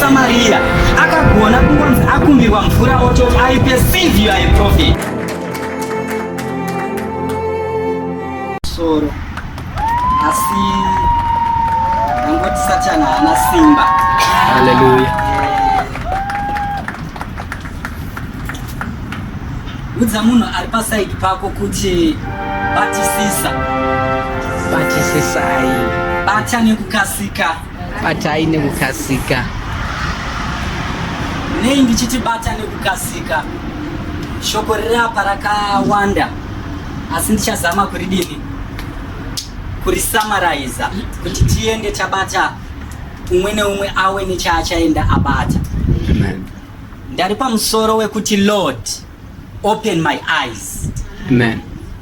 Samaria akagona kungonzi akumbirwa mvura ototi I perceive you are a prophet. Soro. asi angoti satani haana simba haleluya eh, udza munhu ari pasaidi pako kuti batisisa batisisai bata nekukasika batai nekukasika nei ndichiti bata nekukasika shoko riri apa rakawanda asi ndichazama kuridini kurisamaraiza kuti tiende tabata umwe neumwe awe nechaachaenda abata Amen. ndari pamusoro wekuti lord open my eyes Amen.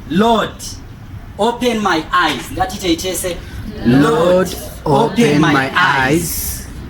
lord open my eyes ngatitei tese Lord, open my eyes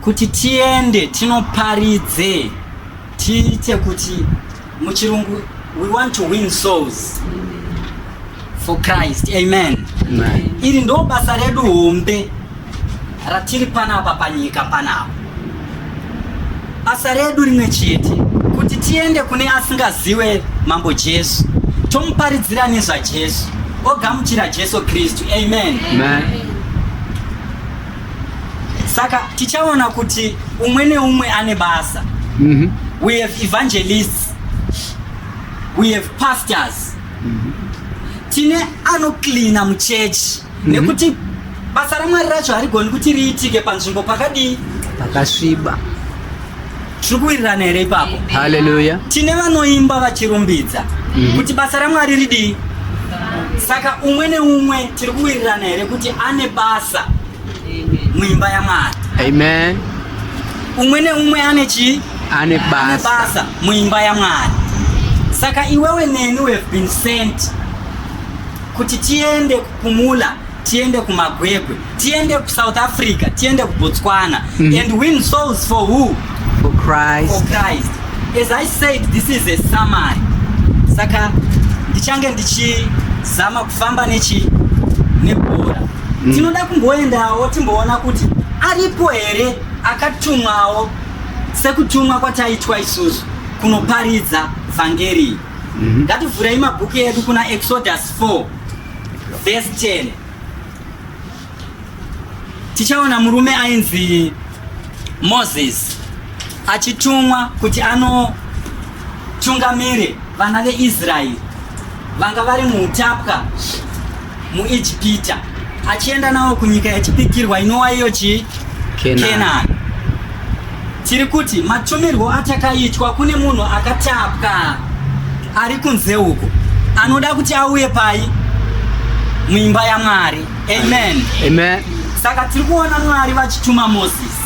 Kuti tiende tinoparidze tiite kuti muchirungu we want to win souls for Christ. Amen. Amen. Iri ndo basa redu hombe ratiri panapa panyika panapa. Basa redu rimwe chete kuti tiende kune asingaziwe mambo Jesu tomuparidzira nezvaJesu ogamuchira Jesu Kristu. Amen. Amen. saka tichaona kuti umwe neumwe ane basa mm -hmm. we have evangelists we have pastors mm -hmm. tine anocleana muchechi mm -hmm. nekuti basa ramwari racho harigoni kuti riitike panzvimbo pakadii pakasviba tiri kuwirirana here ipapo haleluya tine vanoimba vachirumbidza mhm. kuti basa ramwari ridii saka umwe neumwe tiri kuwirirana here kuti ane basa muimba yamwari amen umwe neumwe ane chii ane basa muimba yamwari saka iwewe neni we have been sent kuti tiende kupumula tiende kumagwegwe tiende kusouth africa tiende kubotswana mm. and win souls for who for christ. for christ as i said this is a summary saka ndichange ndichizama kufamba nechi nebhora mm. tinoda kumboendawo timboona kuti aripo here akatumwawo sekutumwa kwataitwa isusu kunoparidza vhangeri mm-hmm. ngativhurei mabhuku edu kuna exodus 4 vhesi 10 Tichaona murume ainzi Moses achitumwa kuti anotungamire vana veIsraeri vanga vari muutapwa muIjipita achienda navo kunyika yachipikirwa inowa iyo chi Kenani. Tiri kuti matumirwo atakaitwa kune munhu akatapwa ari kunze uko anoda kuti auye pai muimba yaMwari. Amen. Amen. Saka tiri kuona Mwari vachituma Moses.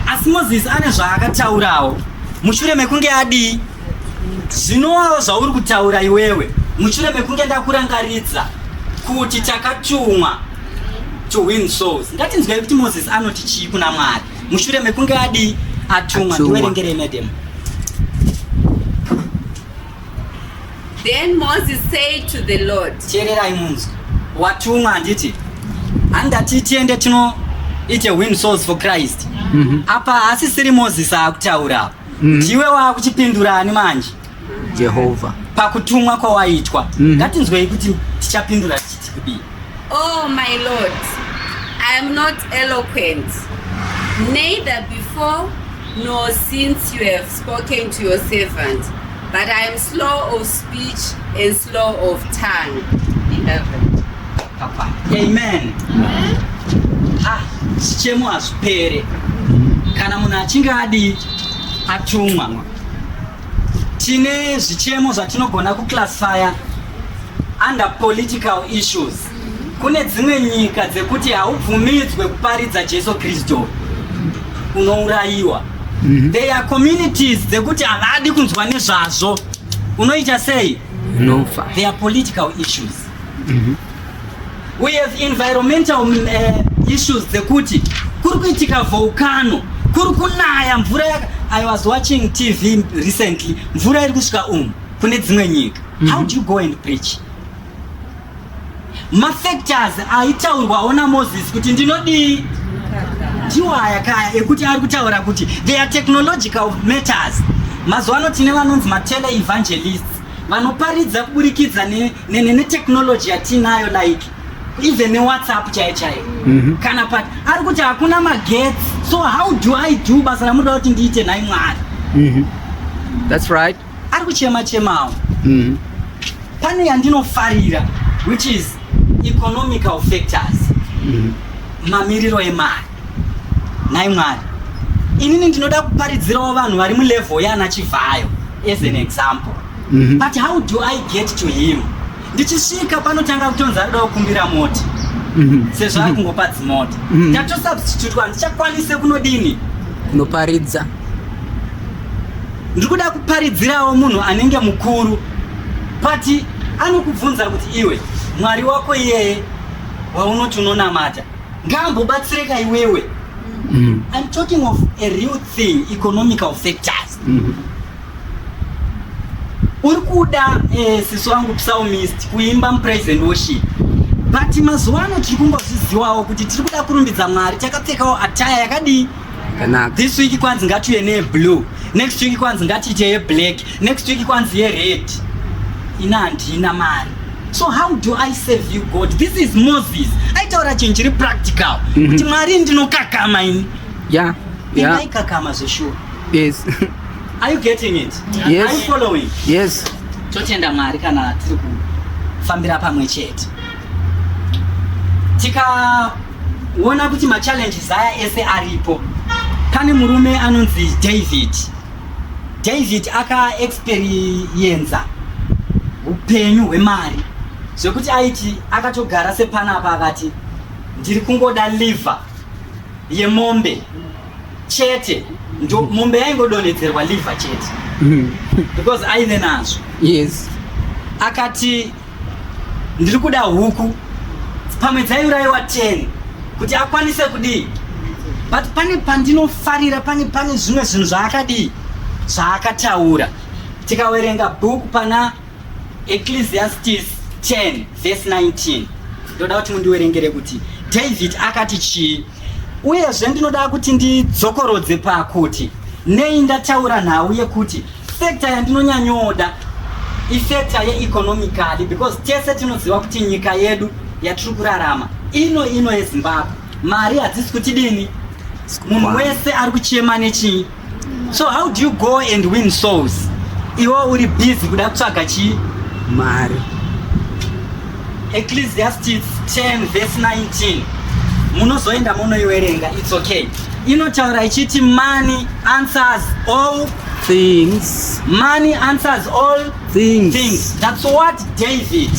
Asi Moses ane zvaakataurawo mushure mekunge adii zvinowawo zvauri kutaura iwewe mushure mekunge ndakurangaridza kuti takatumwa to win souls ngatinzwai kuti moses anoti chii kuna mwari mushure mekunge adii atumwa ndiwerengerei madam then moses said to the lord teererai munzwi watumwa handiti handati tiende tino ite win souls for christ mm -hmm. apa asisiri moses akutaura apa mm -hmm. ndiwe wakuchipindura ani manje Jehovha. Pakutumwa kwawaitwa. Mm. Ngatinzwei kuti tichapindura tichiti kudii. Oh my Lord, I am not eloquent. Neither before nor since you have spoken to your servant, but I am slow of speech and slow of tongue. Beloved. Papa. Amen. Amen. Ah, chichemo hazvipere. Kana munhu achinge adii atumwa. tine zvichemo zvatinogona kuclassifya under political issues kune dzimwe nyika dzekuti haubvumidzwe kuparidza jesu kristu unourayiwa mm -hmm. they are communities dzekuti havadi kunzwa nezvazvo unoita sei unofa no. they are political issues mm -hmm. We have environmental uh, issues dzekuti kuri kuitika volcano kuri kunaya mvura yaka I was watching TV recently mvura iri kusvika umu kune dzimwe nyika mm -hmm. how do you go and preach mafactors aitaurwawo namoses kuti ndinodii ndiwo aya kaya ekuti ari kutaura kuti they are technological matters mazuva ano tine vanonzi matele evangelists vanoparidza kuburikidza ne nene netechnology yatinayo like even newhatsapp chaiyo chaiyo mm -hmm. kana pat ari kuti hakuna magetsi so how do i do basa ramunoda kuti ndiite nhai mwari mm -hmm. thats right ari kuchema chemawo mm -hmm. pane yandinofarira which is economical factors mm -hmm. mamiriro emari nhai mwari inini ndinoda kuparidzirawo vanhu vari mulevel yana chivhayo as an example mm -hmm. but how do i get to him ndichisvika panotanga kutonzi ari kudawo kumbira moti mm -hmm. sezvo ari mhm. kungopa dzimoti mm -hmm. tatosubstitutwa handichakwanise kunodini kunoparidza ndiri kuda kuparidzirawo munhu anenge mukuru pati anokubvunza kuti iwe mwari wako iyeye waunoti unonamata ngaambobatsireka iwewe mm. I'm talking of a real thing economical factors mm. uri kuda eh, sisi wangu psalmist kuimba mupraise and worship but mazuva ano tiri kumbozviziwawo kuti tiri kuda kurumbidza mwari takapfekawo ataya yakadii Kanaka. This week kwanzi ngatiuye ne blue. Next week kwanzi ngatiite ye black. Next week kwanzi ye red. Ina handina mari. So how do I save you God? This is Moses. Aitaura chinhu chiri practical. Mhm. Kuti Mwari ndinokakama ini. Yeah. Yeah. Ndikakama zveshuwa. Yes. Are you getting it? Yes. Are you following? Yes. Totenda Mwari kana tiri kufambira pamwe chete. Tika Uona kuti machallenges aya ese aripo. Pane murume anonzi David. David akaexperienza upenyu hwemari zvekuti aiti akatogara sepanapa akati ndiri kungoda liver yemombe chete ndo mombe yaingodonhedzerwa liver chete because aive nazvo yes akati ndiri kuda huku pamwe dzaiurayiwa 10 kuti akwanise kudii but pane pandinofarira pane pane zvimwe zvinhu zvaakadii zvaakataura tikawerenga bhuku pana ecclesiastes 10 vese 19 ndoda kuti mundiwerengere kuti david akati chii uyezve ndinoda kuti ndidzokorodze pakuti nei ndataura nhau yekuti Sector yandinonyanyoda isector yeeconomically because tese tinoziva kuti nyika yedu yatiri kurarama ino ino yezimbabwe mari hadzisi kuti dini munhu wese ari kuchema nechii so how do you go and win souls iwo uri busy kuda kutsvaga chii mari ecclesiastes 10 vese 19 munozoenda munoiwerenga its okay inotaura ichiti money answers all things. Money answers all things. things. That's what David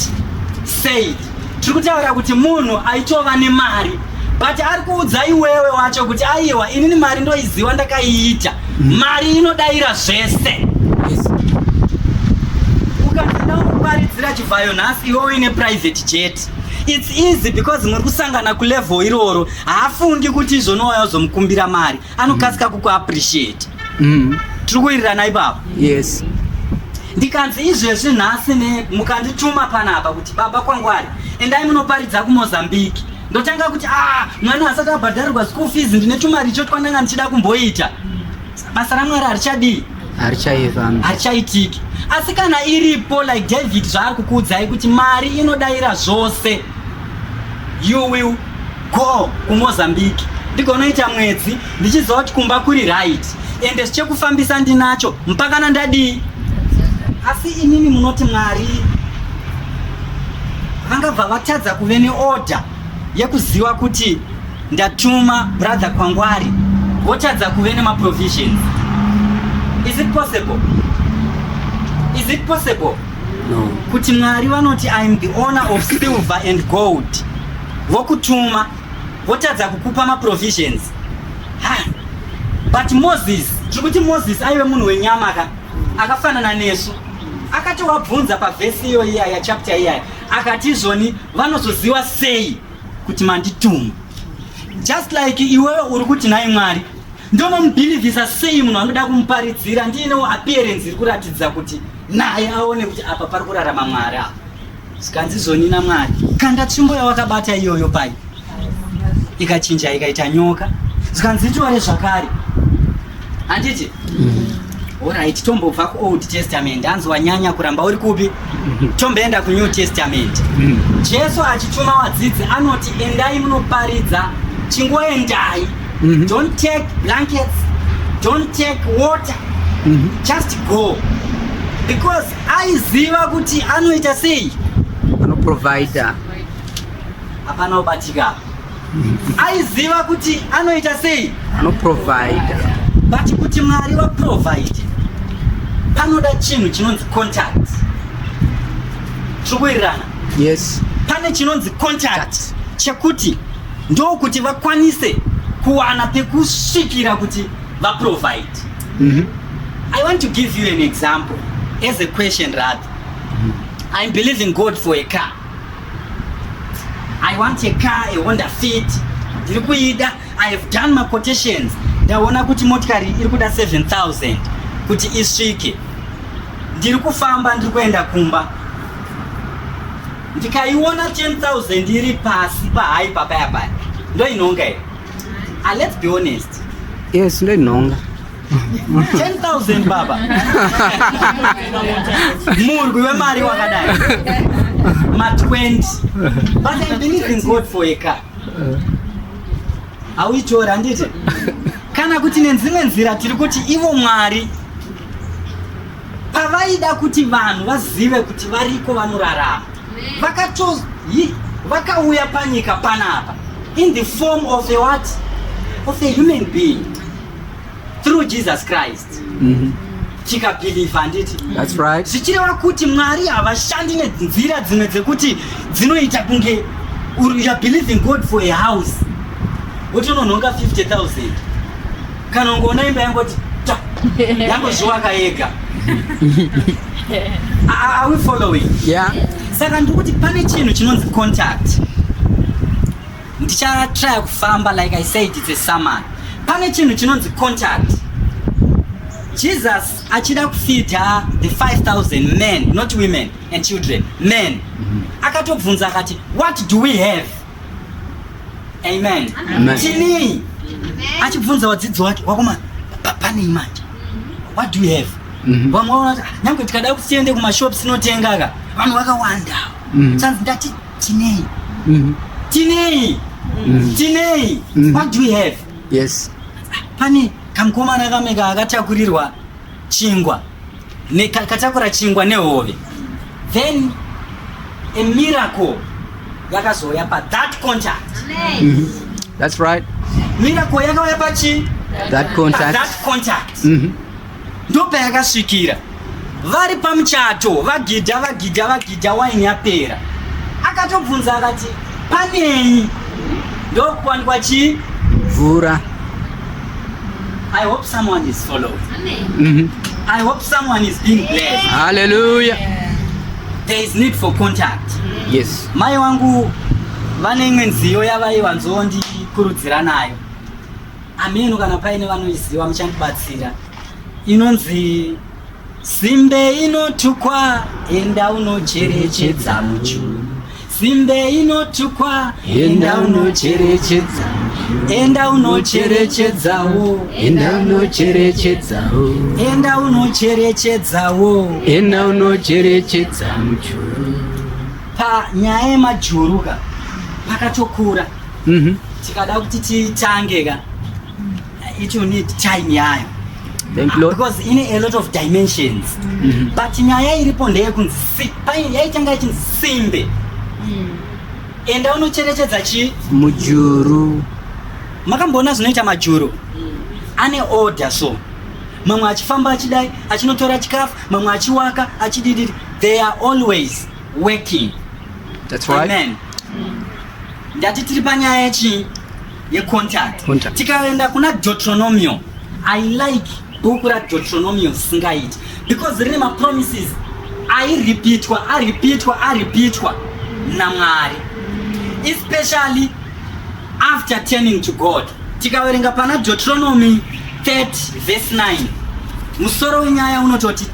said. Tiri kutaura kuti munhu aitova nemari but ari kuudza iwewe wacho kuti aiwa inini mari ndoiziva ndakaiita mm. mari inodaira zvese ukaenda kuparidzira chivhayo nhasi iwe uine private jet its easy because muri kusangana kulevel iroro haafungi kuti izvonowaya uzomukumbira mari anokasika kuku appreciate mm. tiri kuirirana ipapa yes ndikanzi izvezvi nhasi ne mukandituma panapa kuti baba kwangwari endai munoparidza kumozambique ndotanga kuti a ah, mwana asati abhadharirwa school fees ndine tumari icho twandanga ndichida kumboita basa ramwari harichadii harichaitiki asi kana iripo like david zvaari kukuudzai kuti mari inodaira zvose you will go kumozambique ndigonoita mwedzi ndichiziva kuti kumba kuri right ende zvichekufambisa ndinacho mpakana ndadii asi inini munoti mwari vangabva vatadza kuve neorder yekuziva kuti ndatuma brother kwangwari votadza kuve nemaprovisions is it possible is it possible no. kuti mwari vanoti iam the owner of silver and gold vokutuma votadza kukupa maprovisions ha but moses tiri kuti moses aive munhu wenyama ka akafanana nesu akatowabvunza pavhesi iyo iya yachapta iyaya akati izvoni vanozoziva sei kuti mandituma just like iwewe uri kuti nhai mwari ndonomubhilivhisa sei munhu anoda kumuparidzira ndiinewo appearance iri kuratidza kuti naye aone kuti apa pari kurarama mwari apa zvikanzi zoni namwari kanda tsvimbo yawakabata iyoyo pai ikachinja ikaita nyoka zvikanzi itore zvakare handiti orit mm. tombobva kuold testament hanzi wanyanya kuramba uri kupi mm-hmm. tomboenda kunew testament mm. jesu achituma wadzidzi anoti endai munoparidza chingoendai mm-hmm. don't take blankets don't take water mm-hmm. just go because aiziva kuti anoita sei anoprovider hapana ubatika aiziva kuti anoita sei anoprovider but kuti mwari vaprovide panoda chinhu chinonzi contact tiri kuwirirana yes pane chinonzi contact chekuti ndokuti vakwanise kuwana pekusvikira kuti vaprovide mm -hmm. i want to give you an example as a question rather mm -hmm. i'm believing god for a car i want a car a honda fit ndiri kuida i have done my quotations ndaona kuti motikari iri kuda 7000 kuti isvike ndiri kufamba ndiri kuenda kumba ndikaiona 10000 iri pasi pahai papaya paya ndoinonga here Ah, let's be honest. Yes, no longer. 10,000 baba. Mungu wemari wakadai. Ma 20. But I believe in God for a car. Auitora handiti? Kana kuti nenzimwe nzira tiri kuti ivo Mwari pavaida kuti vanhu vazive kuti variko vanorarama vakatos yi vakauya panyika panapa in the form of a what of a human being through jesus christ mm -hmm. tikabhilivha handiti that's right zvichireva kuti mwari havashandi nenzira dzimwe dzekuti dzinoita kunge youare believing god for a house wotononhonga 50000 Kana ungoona imba yangoti ta yangozvivaka yega. Are we following? Yeah. Saka ndikuti pane chinhu chinonzi contact. Ndichatry kufamba like I said it's a summon. Pane chinhu chinonzi contact. Jesus achida kufidha the 5000 men not women and children men. Mm -hmm. Akatobvunza akati what do we have? Amen. Amen. Chini achibvunza wadzidzi wake wakoma panei manje what do you have mhm. vamwe vanoti ah, nyange tikada kuti tiende kumashops tinotenga ka vanhu vakawanda mhm. sanzi ndati tinei mhm. tinei tinei what do you have yes ah, pane kamkomana kameka akatakurirwa chingwa nekatakura chingwa nehove then a miracle yakazouya pa that contact mhm. that's right miracle yakauya pachi that contact, that contact. Mm -hmm. ndopayakasvikira vari pamuchato vagidha vagidha vagidha waini yapera akatobvunza akati panei ndokuwanikwa chii mvura I hope someone is following. Mm-hmm. I hope someone is being blessed. Hallelujah. There is need for contact. Yes. Mai wangu vane imwe nziyo yavayiwanzondikurudzira nayo. Ameno kana paine vanoiziva muchandibatsira. Inonzi Simbe inotukwa enda unocherechedza muchuru simbe inotukwa enda unocherechedza enda unocherechedzawo enda unocherechedzawo enda unocherechedzawo enda unocherechedza mujuru panyaya yemajuru ka pakatokura mm -hmm. tikada kuti titange ka It will need time yayo because in a lot of dimensions mm -hmm. but nyaya iripo ndeyekunzi yaitanga yachinzi simbe mm. enda unocherechedza chi mujuru makamboona zvinoita majuru mm. ane order so mamwe achifamba achidai achinotora chikafu mamwe achiwaka achidididi they are always working That's right. Amen. Ndati tiri panyaya yechii yecontact Contact. tikaenda kuna deuteronomio i like bhuku radeutoronomio singaiti because rine mapromises airipitwa aripitwa aripitwa namwari especially after turning to god tikaverenga pana deuteronomy 30 verse 9 musoro wenyaya unototi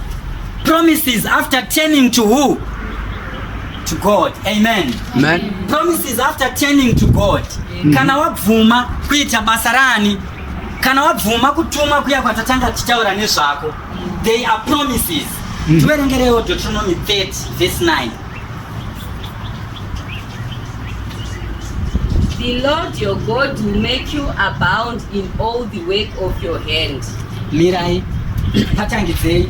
promises after turning to who to God. Amen. Amen. Promises after turning to God. Mm. Kana wabvuma kuita basa rani, kana wabvuma kutuma kuya kwatatanga tichitaura nezvako. They are promises. Mm. Tiverengerewo Deuteronomy 30 verse 9. The Lord your God will make you abound in all the work of your hand. Mirai, patangidzei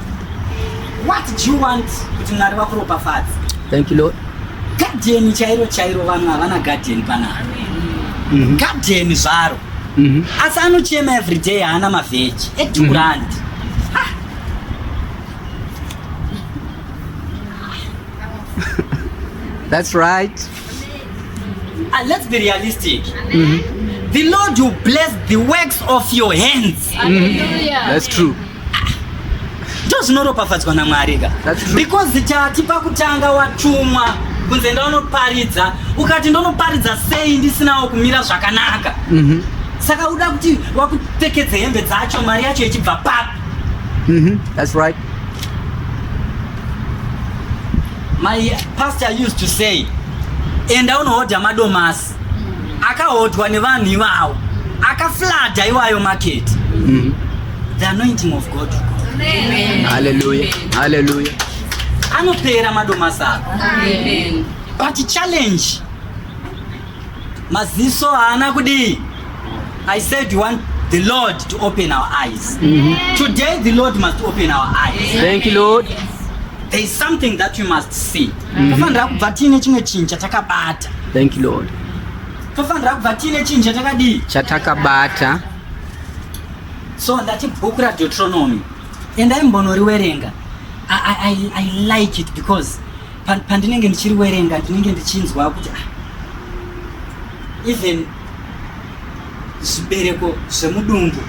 What do you want kuti Mwari vakuropafadze? Thank you Lord. Guardian chairo chairo vanhu havana guardian panapa. Mhm. Guardian zvaro. Mhm. Asi anochema every day haana mavheji edhurandi. Mhm. That's right. And uh, let's be realistic. Mm -hmm. The Lord will bless the works of your hands. Hallelujah. That's true. Ndo zvinoropafadzwa naMwari ka. Because chati pakutanga watumwa kunze ndaunoparidza ukati ndonoparidza sei ndisinawo kumira zvakanaka. Mm -hmm. Saka uda kuti wakupfekedze hembe dzacho mari yacho ichibva papi? Mm -hmm. That's right. My pastor used to say, enda unohodha madomasi akahodhwa nevanhu ivawo akaflada iwayo market mm. the anointing of god haleluya haleluya anopera madomasi ako but challenge maziso haana kudii i said you want the lord to open our eyes mm -hmm. today the lord must open our eyes thank you lord there is something that you must see mhm. tofanira kubva tiine chimwe chinhu chatakabata thank you lord tofanira kubva tiine chinhu chatakadii chatakabata so ndati bhuku radetronomy endai mbonoriwerenga I, I, I like it because pandinenge ndichiri werenga ndinenge ndichinzwa kuti ah, even zvibereko zvemudumbu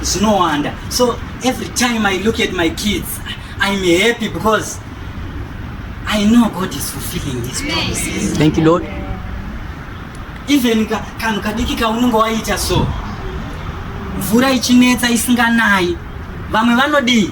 zvinowanda so every time i look at my kids i'm happy because i know god is fulfilling his promises thank you lord even kanhu kadiki kaunenge waita so mvura ichinetsa isinganayi vamwe vanodii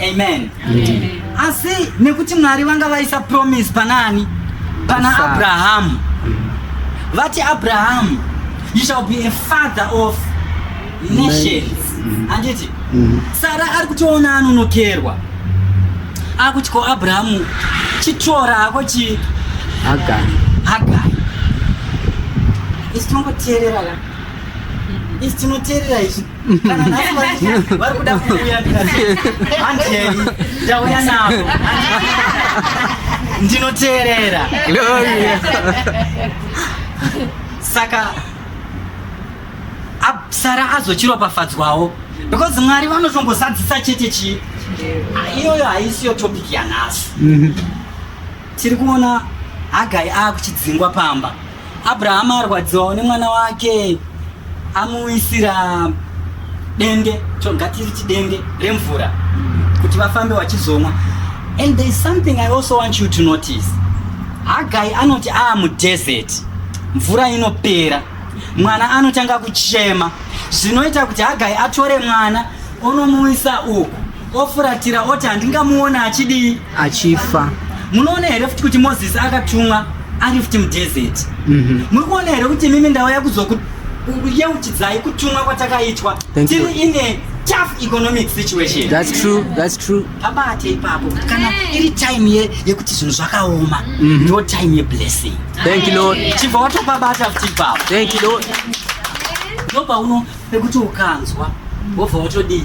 Amen. Amen. Asi nekuti Mwari vanga vaisa promise panani? Pana Sa Abraham. Vati Abraham, you shall be a father of nations. Mm-hmm. Anditi? Mm-hmm. Sara ari kutoona anonokerwa. Akuti ko Abraham chitora hako chi Hagai. Hagai. Isi tongoteerera. Isi tinoteerera izvi. ndinoteerera saka sara azochiropafadzwawo because mwari vanotongozadzisa chete chii iyoyo haisiyo topic yanhasi mhm. tiri kuona hagai akuchidzingwa pamba Abrahama arwadziwawo nemwana wake amuisira dende chogatiri chidende remvura kuti vafambe vachizomwa and there is something i also want you to notice hagai anoti aa ah, mudesert mvura inopera mwana anotanga kuchema zvinoita kuti hagai atore mwana onomuisa uku ofuratira oti handingamuona achidii achifa munoona here futi kuti mozisi akatumwa ari futi mudhezeti mhm. muri kuona here kuti imimi ndauya kuzokuyeuchidzai kutumwa kwatakaitwa tiri ine tough economic situation that's true that's true pabate ipapo kana iri time ye yekuti zvinhu zvakaoma mhm. ndo time ye blessing thank you lord chibva watopabata futi ipapo thank you lord ndopauno pekuti ukanzwa wobva watodii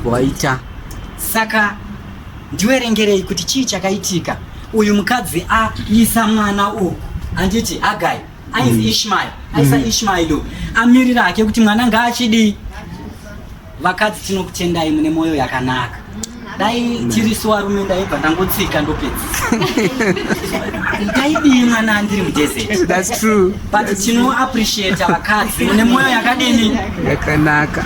Waita. Saka ndiwerengerei kuti chii chakaitika. Uyu mukadzi aisa mwana uku. Handiti Hagai. Ainzi mm. Ishmael. Aisa mm. Ishmael uyu. Amirira hake kuti mwana ngaachidii. Vakadzi tinokutendai mune moyo yakanaka. Dai tiri suwa rume ndaibva ndangotsika ndopedza. Ndaidii mwana andiri mudesert. That's true. But tino appreciate vakadzi mune moyo yakadini. Yakanaka.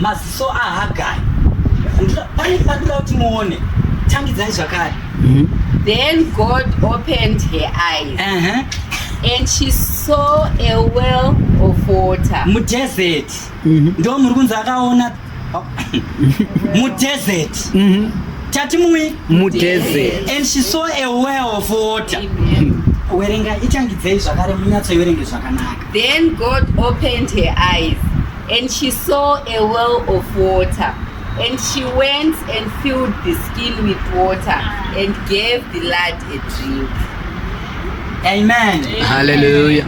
maziso ahagai pane pandoda kuti muone tangidzai zvakare mhm. then god opened her eyes uh -huh. and she saw a well of water mudesert mhm. ndo muri kunzi akaona mudesert mhm. tati mui mudesert and she saw a well of water werenga itangidzei zvakare munyatsoiwerenge zvakanaka Then God opened her eyes, and she saw a well of water. And she went and filled the skin with water and gave the lad a drink. Amen. Hallelujah.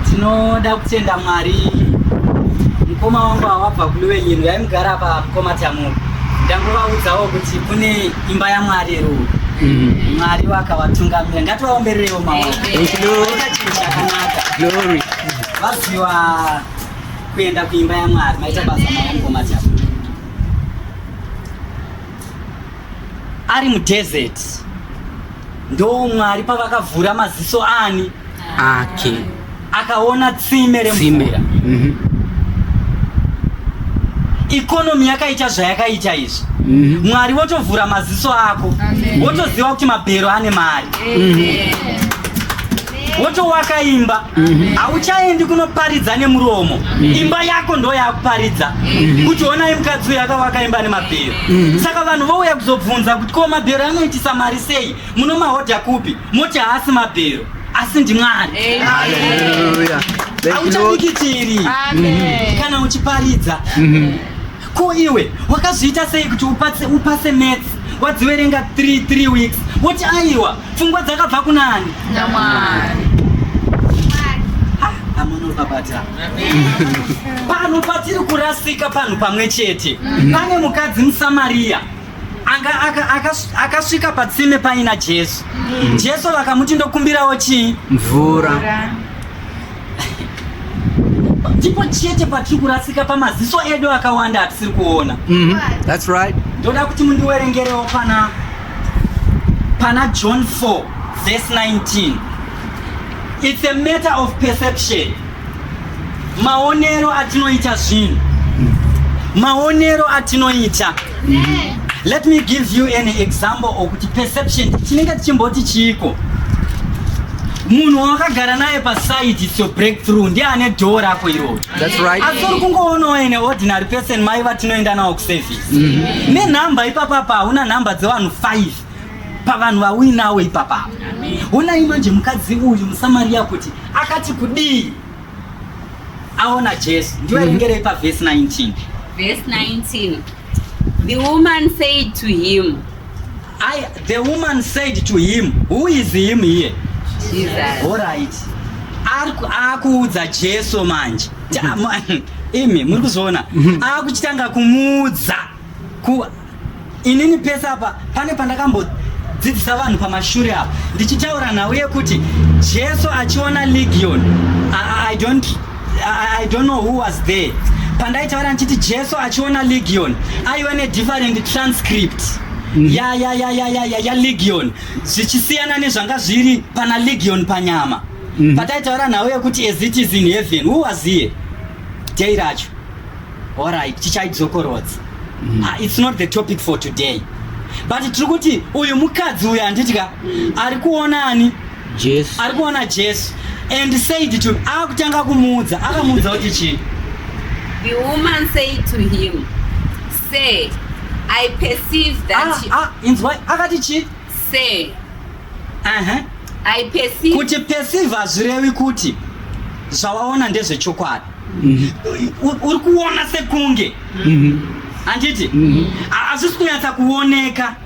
Ndinoda kutenda Mwari. Mkoma wangu awabva kuliwe nyinu yaimugara pa mkoma tamu. Ndangovaudzawo kuti kune imba yamwari iri uku mm. mwari vakavatungamira ngativaombererewo maoakanaka vaziva kuenda kuimba yamwari maita basa maokomati ari mudesert ndomwari pavakavhura maziso ani ake akaona tsime remvura mhm. ikonomi yakaita zvayakaita izvi mhm. mwari votovhura maziso ako wotoziva kuti mabhero ane mari mhm. wotowaka imba mhm. hauchaendi mm -hmm. kunoparidza nemuromo mm -hmm. imba yako ndo yakuparidza mm -hmm. kuti onai mukadzi uyo akavaka imba nemabhero mm -hmm. saka vanhu vouya kuzobvunza kuti ko mabhero anoitisa mari sei munomahodha kupi moti haasi mabhero asi ndimwari hauchabikitiri mhm. kana uchiparidza mm -hmm. Ko iwe wakazviita sei kuti upase, upase maths wadziverenga 3 3 weeks woti aiwa pfungwa dzakabva kunani? Namwari. Amunobabata. Panhu patiri kurasika panhu pamwe chete. Pane mukadzi muSamaria anga aka- akas- akasvika patsime paina Jesu. Jesu vakamuti ndokumbirawo chii? Mvura. ndipo chete patiri kurasika pamaziso edu akawanda atisiri kuona mm -hmm. That's right. ndoda kuti mundiwerengerewo pana pana john 4 verse 19 it's a matter of perception maonero atinoita zvinhu maonero atinoita Let me give you an example okuti perception chinenge tichimboti chiiko munhu wakagara naye paside its your breakthrough ndiye ane dhoo rako iroro asi uri kungoonawo ene ordinary person mai vatinoenda nawo kuservice mm-hmm. nenhamba ipapapa hauna nhamba dzevanhu five pavanhu vauinawo ipapapa honai manje mukadzi uyu musamariya kuti akati kudii aona Jesu ndiwe mm-hmm. ringerei pa verse 19 verse 19 the woman said to him I, the woman said to him who is him here Jesus all right akuudza Jesu manje mm-hmm. imi muri kuzviona mm-hmm. akuchitanga kumuudza Kuva inini pese apa pane pandakambodzidzisa vanhu pamashure apa ndichitaura nhau yekuti Jesu achiona legion I, I don't I, I don't know who was there pandaitaura ndichiti Jesu achiona legion aive ne different transcript mm. ya ya ya ya ya ya, ya legion zvichisiyana nezvanga zviri pana legion panyama mm. pataitaura nhau yekuti as it is in heaven who was here day racho Alright, chichaidzokorodza. Mm. Ah, it's not the topic for today. But tiri kuti uyu mukadzi uyu anditya ari kuona ani? Jesu. Ari kuona Jesu and said to him akutanga ah, kumuudza akamuudza kuti chii? The woman said to him, "Say, I perceive that ah, you... ah, inzwai akati chii? Say. Aha. Uh -huh. I perceive. Kuti perceive hazvirevi kuti zvawaona ndezvechokwadi. uri kuona sekunge handiti hazvisi kunyatsa kuoneka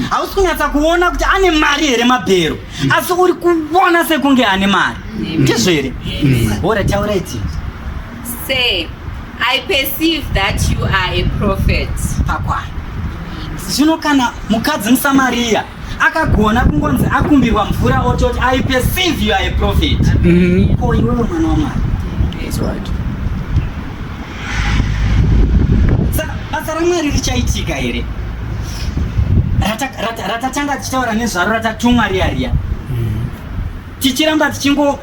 hausi kunyatsa kuona kuti ane mari here mabhero asi uri kuona sekunge ane mari ndizvo here ora taura iti say i perceive that you are a prophet pakwana zvino kana mukadzi musamariya akagona kungonzi akumbirwa mvura ototi i perceive you are a prophet mm-hmm. ko iwewe mwana wamwari saka basa ramwari richaitika here ratatanga tichitaura nezvaro ratatumwa riya riya mm-hmm. tichiramba tichingo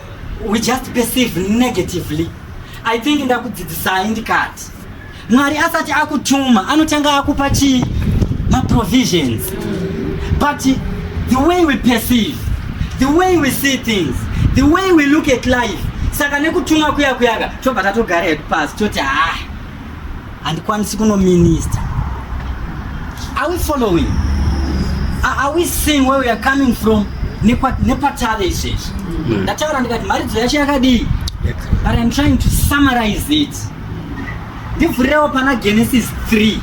we just perceive negatively i think ndakudzidzisai ndikati Mwari asati akutuma anotanga akupa chii? Ma provisions. But the way we perceive, the way we see things, the way we look at life. Saka nekutuma kuya kuyaka tobva tatogara hedu pasi toti ha handikwanisi kuno minister. Are we following? Are we seeing where we are coming from? nepatave izvezvi ndataura ndikati mharidzo yacho yakadii but im trying to summarize it ndivhurirewo pana genesis 3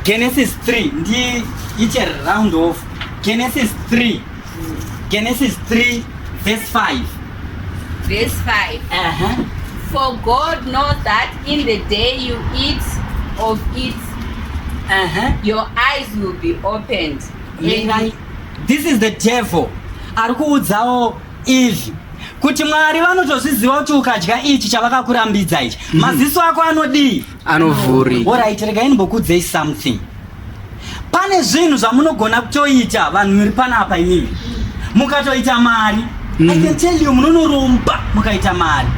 genesis 3 ndiite round of genesis 3 genesis 3 verse 5 verse 5 uh -huh. for god knows that in the day you eat of it uh -huh. your eyes will be opened Lengai, this is the devil ari kuudzawo izvi kuti mwari vanotozviziva kuti ukadya ichi chavakakurambidza ichi mhm. maziso ako anodii anovhuri orit regai ndimbokuudzei something pane zvinhu zvamunogona kutoita vanhu muri panapa imimi mukatoita mari Mm. I can tell you munonoromba mukaita mari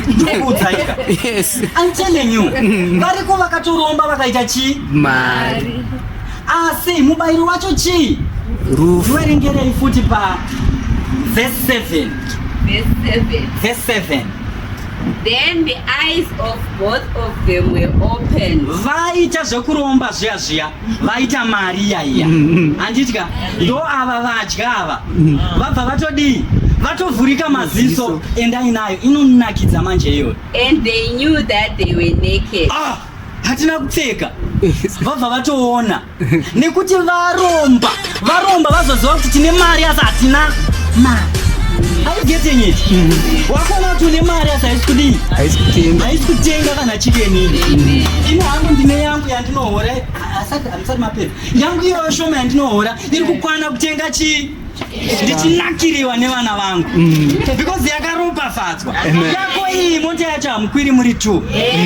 ndokuudzaika yes. I'm telling you mm. variko vakatoromba vakaita chii mari Asi mubairo wacho chii? Rufu. Werengerei futi pa verse 7. Verse 7. Verse 7. Then the eyes of both of them were opened. Vaita zvekuromba zviya zviya, vaita mari iya iya. Handitya, mm-hmm. ndo ava vadya ava. Mm-hmm. Vabva vatodii? vatovhurika maziso endai nayo inonakidza manje iyoyo and they knew that they were naked ah! hatina kupfeka vabva vatoona nekuti varomba varomba vazoziva kuti tine mari asi hatina mari wakuona kuti une mari asi haisi kudii haisi kutenga kana chikenini ini hangu ndine yangu yandinohora asati hamusati mapedza yangu iyoyo shoma yandinohora iri kukwana kutenga chii ndichinakiriwa nevana vangu mm. because yakaropafadzwa yako iyi mota yacho hamukwiri muri t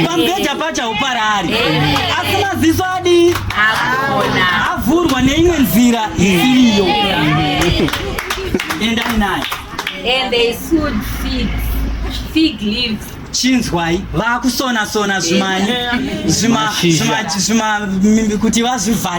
pamubhedha pacho hauparari asi maziso adii avhurwa neimwe nzira isiriyo endai nayo chinzwai vakusona sona zvimani zvima kuti vazvivhare